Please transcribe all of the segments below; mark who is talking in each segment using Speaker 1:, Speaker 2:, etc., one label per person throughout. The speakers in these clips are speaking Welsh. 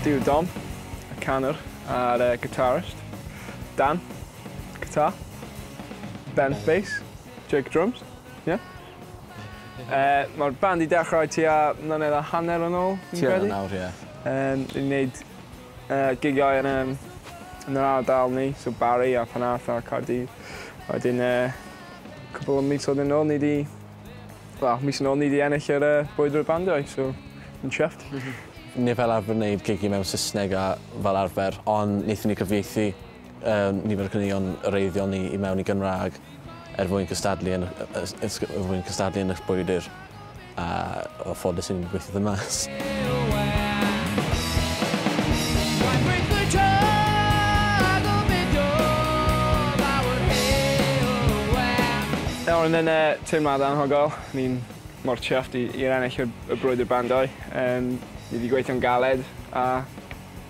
Speaker 1: Dyw Dom, y canwr a'r uh, guitarist, Dan, guitar, Ben, bass, Jake, drums, yeah? Uh, Mae'r band i dechrau ti a mlynedd a hanner yn ôl, fi'n credu? Ti nawr, ie. Yeah. Um,
Speaker 2: ni'n gwneud
Speaker 1: Yy gigiau yn yym yn yr ardal ni so Barry a Penarth a Caerdydd. A wedyn yy cwpwl o misoedd yn ôl ni 'di wel mis yn ôl ni 'di ennill yr yy brwydr y bandiau so yn chuffed. Ni fel
Speaker 2: arfer yn neud gigi mewn Sysneg a fel arfer ond naethon ni gyfieithu yym nifer o caneuon wreiddiol ni i mewn i Gymra'g er mwyn cystadlu yn y y s- ysg- er mwyn cystadlu yn y brwydr. A o ffodus yn gweithio dda mas.
Speaker 1: Nawr yn yn y teimlad anhygol, ni'n mor chuffed i i'r ennill y y brwydr bandiau yym ni 'di gweithio'n galed a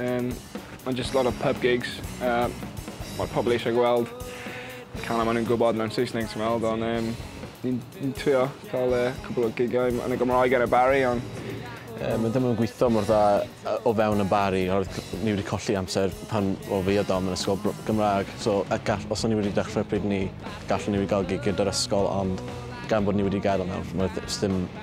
Speaker 1: Um, mae'n just lot of pub gigs. Uh, Mae'r pobl eisiau gweld canau maen nhw'n gwybod mewn Saesneg, ti'n meddwl, ond um, ni'n ni trio cael uh, cwbl o gigiau yn y Gymraeg ar y Barry, ond Um, mae ddim yn
Speaker 2: gweithio mor dda o fewn yn bari, oherwydd ni wedi colli amser pan o fi a Dom yn ysgol Gymraeg. So, gall, os o'n ni wedi dechrau pryd ni, gallwn ni wedi cael gig gyda'r ysgol, ond gan bod ni wedi gael yna, mae ddim